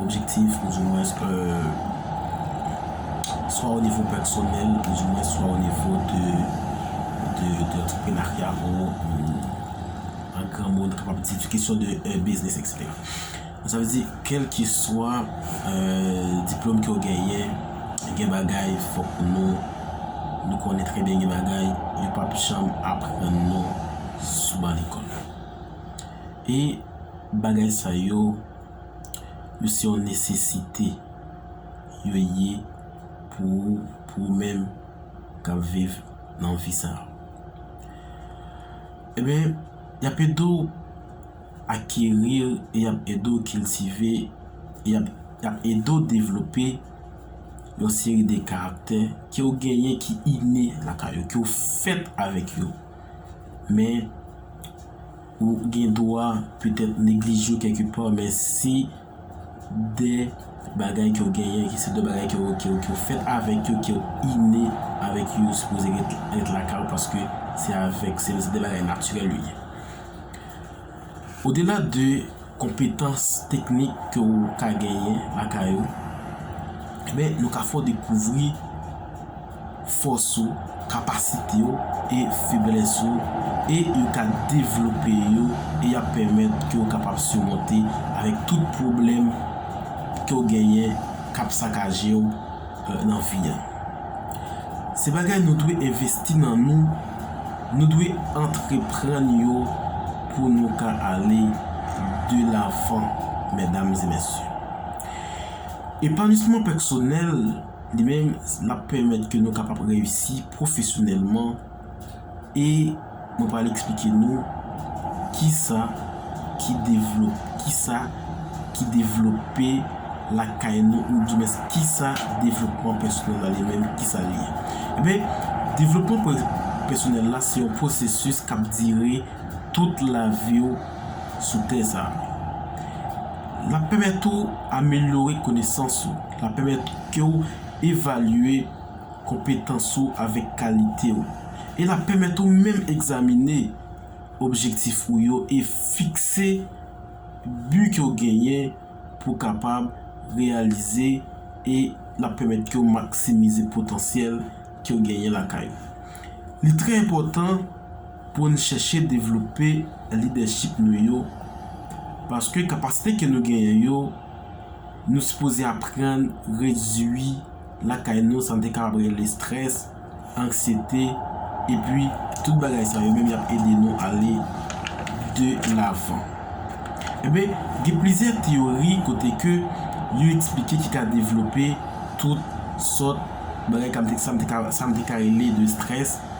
objektif ou di mwens swa o nivo pèsonèl ou di mwens swa o nivo de antreprenarya ou an gran moun kapab di di kesyon de biznis ekseptè. Sa vle di kèlkeswa diplòm ke ou genyen gen bagay fòk nou nou konnen trè byen gen bagay yo pap janm aprann nou sou ban lekòl e bagay sa yo yo se yon nesesite yo ye pou ou, pou ou menm k ap viv nan vi sa a. Enben, y ap ede w akeri, y ap ede w kiltive, y ap ede w devlope yon seri de karaktè ke w genyen ki ine lakay ou, ke w fèt avèk yo. Men. Ou gen dwa petèt neglije yo kèlke pa, men se de bagay ke w genyen, ke se de bagay ke w ke w fèt avèk yo, ke w inne avèk yo, yo sipoze ret ret lakay ou paske se avèk se de bagay natirèl yo ye. Odela de konpetans teknik ke w ka genyen lakay ou, men nou ka fè w dekouvri. fòs ou, kapasite w e feblès ou e yo ka devlope yo e y ap pèmèt ke w kapab simonte avèk tout pwoblèm ke w genyen k ap sakaje w nan vi a. Se bagay nou dwe envesti nan nou, nou dwe antreprann yo pou nou ka ale de lavan mèdam e mèsye. Epanisman pèksonèl. Li menm l ap pèmèt ke nou kapab reyisi pwofesyonèlman e mwen pral eksplike nou kisa ki devlope, kisa ki devlope lakay nou ou di mens kisa devlopman pèsonèl la li menm kisa li ye. Enben, devlopman pèsonèl la se yon pwosesis k ap dire tout lavi w sou tè sa a. L ap pèmèt ou amelyore konesans ou. L ap pèmèt ke w evalye konpetans ou avèk kalite w. E l ap pèmèt ou menm egzamine objektif ou yo e fikse bi ke w genyen pou w kapab reyalize e l ap pèmèt ke w maksimize potansyèl ke w genyen lakay ou. Li trè enpòtan. pou n chèche devlope lidèchip nou yo, paske kapasite ke nou genyen yo, nou sipoze aprann redui lakay nou sa n te kapab rele strès, anksyete, epi tout bagay sa yo menm y ap ede nou ale de lavan. Enben, gen plizyè teyori kote ke yo eksplike ki ka devlope tout sòt bagay sa m te ka rele de strès,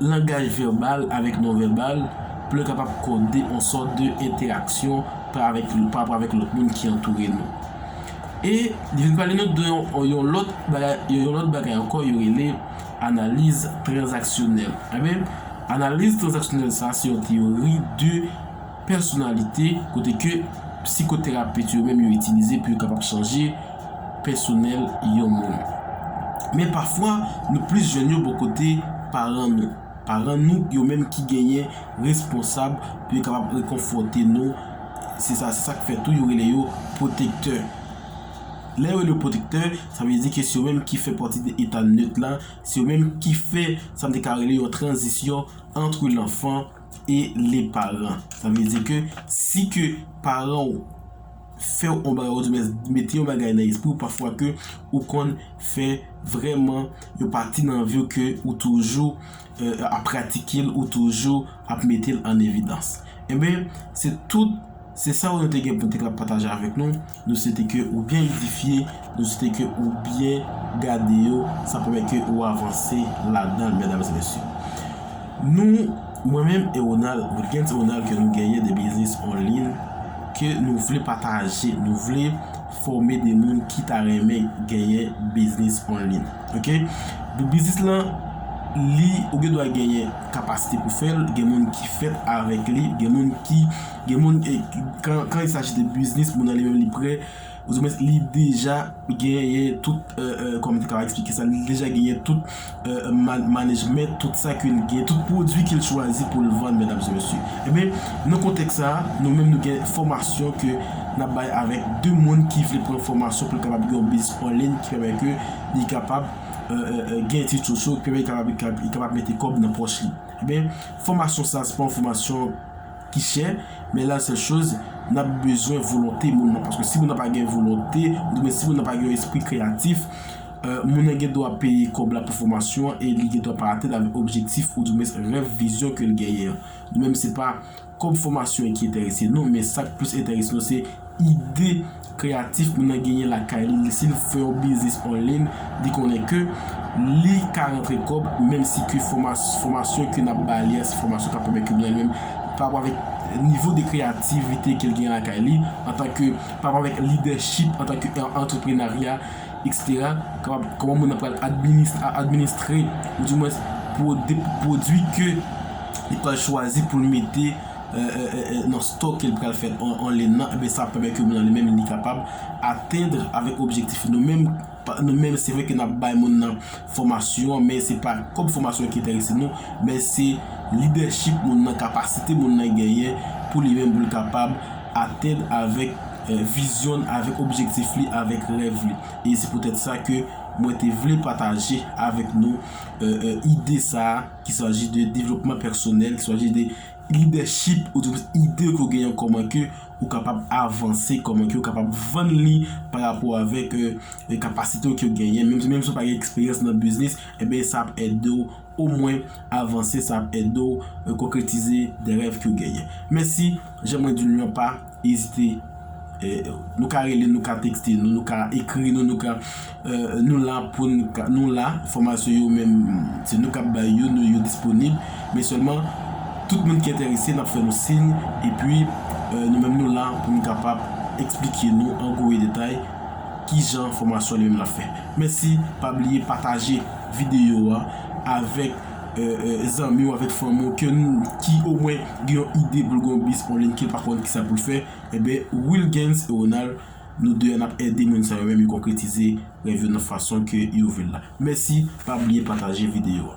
Langaj vèbal avèk non-vèbal pple kapab kode on sòt de entèraksyon pa avèk lou, pa rapò avèk lòt moun ki antoure nou. E li vin pale nou de yon o yon lòt bagay, yo yon lòt bagay ankò yo rele analiz tranzaksyonèl. Enben, analiz tranzaksyonèl sa a se yon teyori de Pèsonalite, kote ke psikoterapet yo menm yo itilize pou yo kapab chanje pèsonèl yon moun. Men pafwa, nou plis jwenn yo bò kote paran nou. Paran nou yo menm ki genyen responsab pou yo kapab rekonfòte nou, se sa se sa k fè tou yo rele yo pwotektè. Lè yo rele yo pwotektè, sa vle di ke se yo menm ki fè pati de eta nöt la, se yo menm ki fè sa m te ka rele yon tranzisyon antre lanfan, e le paran. Sa vle di ke si ke paran ou fè ou yon bagay ou di mens mete yon bagay nan espri ou pafwa ke ou konn fè vreman yon pati nan vi ou ke ou toujou ap pratike l, ou toujou ap mete l an evidans. Enben, se tout, se sa ou nou te gen pou te ka pataje avèk nou. Nou swete ke ou byen edifye, nou swete ke ou byen gade yo, sa pwomèt ke ou avanse ladanl medam e mesye. Nou, mwen menm e Ronald, Wilguens Ronald ke nou genyen de biznis onlin ke nou vle pataje, nou vle fòme de moun ki ta renmen genyen biznis onlin. Ok. Pou biznis lan, li ou gen dwa genyen kapasite pou fèl, gen moun ki fèt avèk li, gen moun ki. Gen moun, kan il saji de biznis, moun nan li menm li prè, ouzoumen li deja genyen tout, kòman te ka eksplike sa, li deja genyen tout manejmèt, tout sa ke li genyen, tout pwodui ke li chwazi pou li vann, medam e mesye. Enben, nan kontèks sa a, nou menm nou gen fòmasyon ke n ap bay avèk de moun ki vle pran fòmasyon pou l kapab gen yon biznis anliy ki pèmèt ke li kapab gen etid sosyo, ki pèmèt li kapab mete kòb nan pòch li. Enben, fòmasyon sa a se pa yon fòmasyon. ki chè, men la sèl choz nap bezwen volonte moun nan, paske si moun nan pa gen volonte, ou di mwen si moun nan pa gen yon espri kreyatif, moun nan gen dwa peye kòb la pou fòmasyon an e li gen dwa pa atenn avèk objektif ou di mwen rèv, vizyon ke l genyen an. Nou menm se pa kòb fòmasyon ki enterese nou, men sak plis enterese nou se. ide kreyatif moun nan genyen lakay li, si l fè yon biznis anliyn, li konnen ke li ka rantre kòb, menm si ke fòmasyon ke n ap ba li a, se fòmasyon k ap pèmèt ke li anliyn, pa rapò avèk nivo de kreyativite ke l genyen lakay li, antanke, pa rapò avèk lidèchip, antanke antreprenarya, eksetera, kapab, kòman moun nan pral administre, ou di mwens, pwodui ke li pral chwazi pou l mete. nan store ke li pral fè an lin nan, ebyen sa ap pèmèt ke moun nan li menm li kapab atendre avèk objektif nou menm, nou menm se vre ke nap bay moun nan fòmasyon an men se pa kòb fòmasyon ki enterese nou men se lidèchip moun nan, kapasite moun nan genyen pou li menm pou li kapab atendre avèk vizyon l, avèk objektif li, avèk rèv li e se poutèt sa ke mwen te vle pataje avèk nou ide sa ki saji de devlopman pèsonèl, ki saji de. Lidèchip ou di plis ide ke w genyen kòman ke ou kapab avanse, kòman ke ou kapab vann li pa rapò avèk kapasite w ke w genyen. Menm si w pa gen eksperyans nan biznis, enben sa ap ede w omwen avanse, sa ap ede w konkretize de rèv ke w genyen. Mèsi, jan mwen di l lan pa. Ezite Nou ka rele nou ka tekste nou nou ka ekri nou nou ka Nou la pou nou la Fòmasyon yo menm se nou kap bay yo nou yo disponib men sèlman tout moun ki enterese nap fè nou siy epi nou menm nou la pou nou kapab eksplike nou an gou e detay kijan fòmasyon li menm la fè mèsi pa bliye pataje videyo a avèk zanmi w avèk fanmi w ke n ki omwen gen yon ide pou l gen yon biznis online ke l pa konn kisa pou l fè enben Wilguens e Ronald nou 2 a n ap ede moun sa yo menm yo konkretize rèv yo nan fason ke yo vle l la. Mèsi pa bliye pataje videyo a.